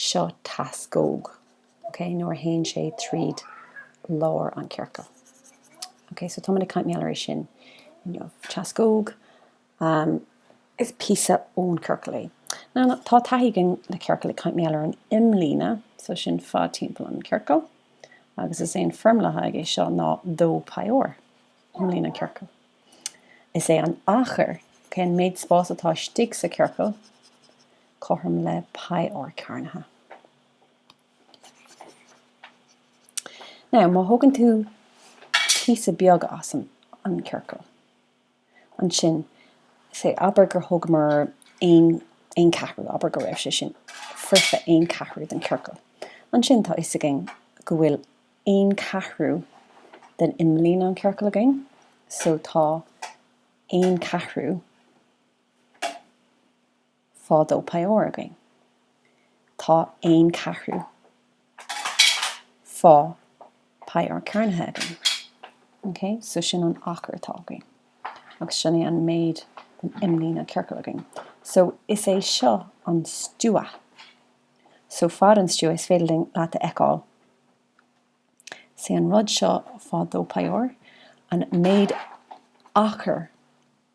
Seo teascóg, ok, nuair a théann sé tríd lár an chiorcail. Ok, so táimid ag caint mar gheall ar é sin inniu. Teascóg, ahm, is píosa ón ciorcal é. Now, now, tá taithí againn le ciorcail ag caint mar gheall ar an imlíne, so sin fad timpeall an ciorcail, agus is é an foirmle atá aige seo ná 2 pi R, imlíne an ciorcail. Is é an achar, ok, an méid spáis atá istigh sa ciorcal, cothrom le pi R cearnaithe. Now, má thógann tú píosa beag as an an chiorcal, ansin, say, abair gur thógamar aon aon ceathrú, abair go raibh sé sin foirfe aon cheathrú den chiorcal, ansin tá fhios againn go bhfuil aon cheathrú den imlíne an chiorcal againn, so tá aon cheathrú, fá 2 pi R againn. Tá aon ceathrú fá pi R cearnaithe againn. OK? So sin an achar atá againn. Agus sin é an méid den imlíne an ciorcail againn. So is é seo an stua. So fad an stua is féidir linn leat a fheiceáil. Is é an rud seo fá 2 pi R an méid achar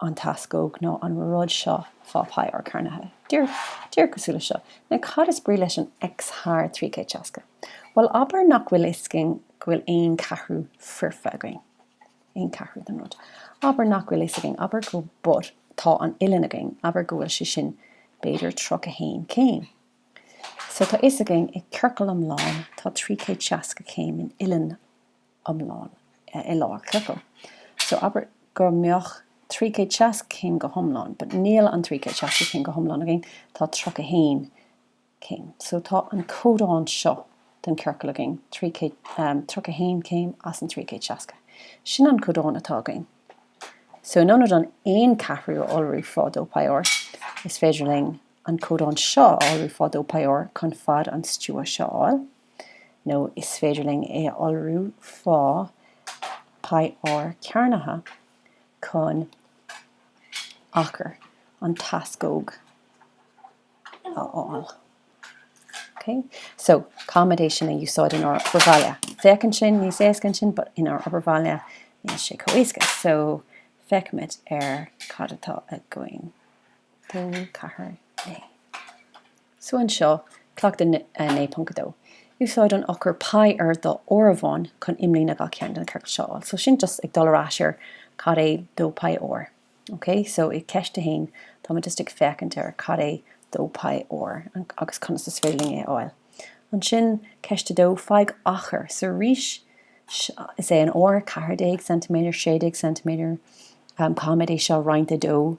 an teascóg nó an rud seo fá pi R cearnaithe. Díreach cosúil le seo. Now cad is brí leis an X thar trí chéad seasca? Bhuel, abair nach bhfuil fhios againn go bhfuil aon cheathrú foirfe againn, aon cheathrú den rud. Abair nach bhfuil fhios againn, abair go, but tá an uillinn againn, abair go bhfuil sé sin b'fhéidir tríocha haon chéim. So tá fhios againn i ciorcal iomlán tá trí chéad seasca céim in uillinn iomlán i lár ciorcail. So abair go mbeadh 300 seasca céim go hiomlán but níl an 300 seasca céim go hiomlán againn, tá 31 céim. So tá an codán seo den ciorcal againn, 31 céim as an 300 seasca. Sin an codán atá againn. So in ionad an 1 ceathrú a iolrú fá 2 pi r, is féidir linn an codán seo a iolrú fá 2 pi r chun fad an stua seo a fháil. nó is féidir linn é a iolrú fá pi R cearnaithe chun achar an teascóg a fháil. ok so caithfimid é sin a úsáid in ár obair bhaile. Féachann sin níos éasca ansin but in ár obair bhaile níl sé chomh héasca so feicimid ar cad atá againn. 2, 4, 9. So anseo, Cleachtadh 9.2. Úsáid an eochair pi ar do áireamhán chun imlíne gach ceann de na ciorcail seo a fháil. So sin just ag dul ar ais ar cad é 2 pi R. Ok, so i gceist 1, táimid just ag féachaint ar cad é 2 pi R agus conas is féidir linn é a fháil. Ansin, ceist 2, faigh achar. So arís, is é an R 14 cm, 16 cm, um, caithfimid é seo a roinnt ar 2,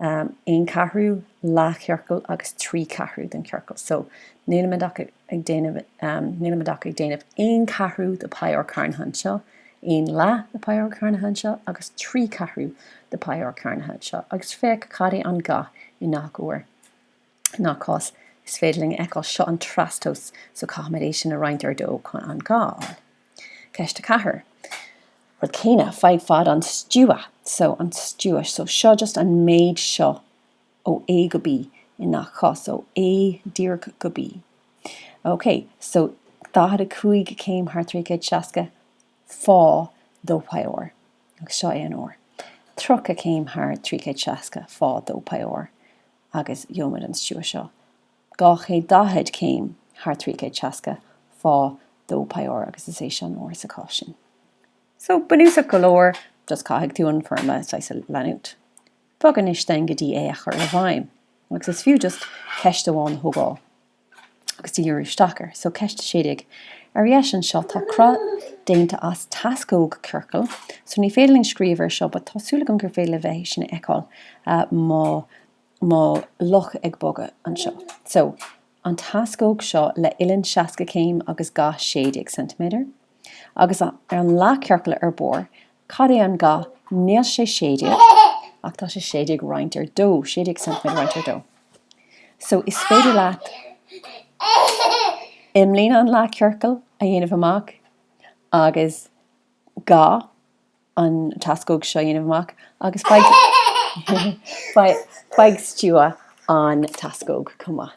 aon ceathrú, leathchiorcal agus trí cheathrú den chiorcal. So, nílimid ach ag déanamh, nílimid ach ag déanamh aon ceathrú de Pi R cearnaithe anseo, aon leath de Pi R cearnaithe anseo agus trí cheathrú de Pi R cearnaithe anseo agus féach cad é an ga i ngach uair. i ngach cás is féidir linn a fheiceáil. Seo an trastomhas so caithfimid é sin a roinnt ar 2 chun an ga a fháil. Ceist 4, rud céanna, faigh fad an stua so an stua so seo just an méid seo ó A go B i ngach cás, ó A díreach go B. OK, so 45 céim thar 360 fá dó pi r agus seo é an r. 30 céim thar 360 fá dó pi r. agus gheobhaimid an stua seo 240 céim thar 360 fá dó pi r agus is é seo an r sa chás sin. So, bunúsach go leor, just caithfidh tú an foirmle saghas a leanúint. Bog anois then go dtí é a chur i bhfeidhm agus is fiú just ceist amháin a thógáil. agus díriú isteach air. So, Ceist 16. Ar dheis anseo tá cruth déanta as teascóg ciorcail. So, ní féidir linn scríobh air seo but tá súil agam gur féidir libh é sin a fheiceáil mo mo luch ag bogadh anseo. So, an teascóg seo le uillinn 60 céim agus ga 16 ceintiméadar. Agus ar an leathchiorcal ar barr Cad é an ga? Níl sé sé déag ach tá sé sé déag roinnt ar dó, sé déag ceintiméadar roinnt ar dó. So is féidir leat imlíne an leathchiorcail a dhéanamh amach agus ga an teascóg seo a dhéanamh amach agus faigh stua an teascóg chomh maith.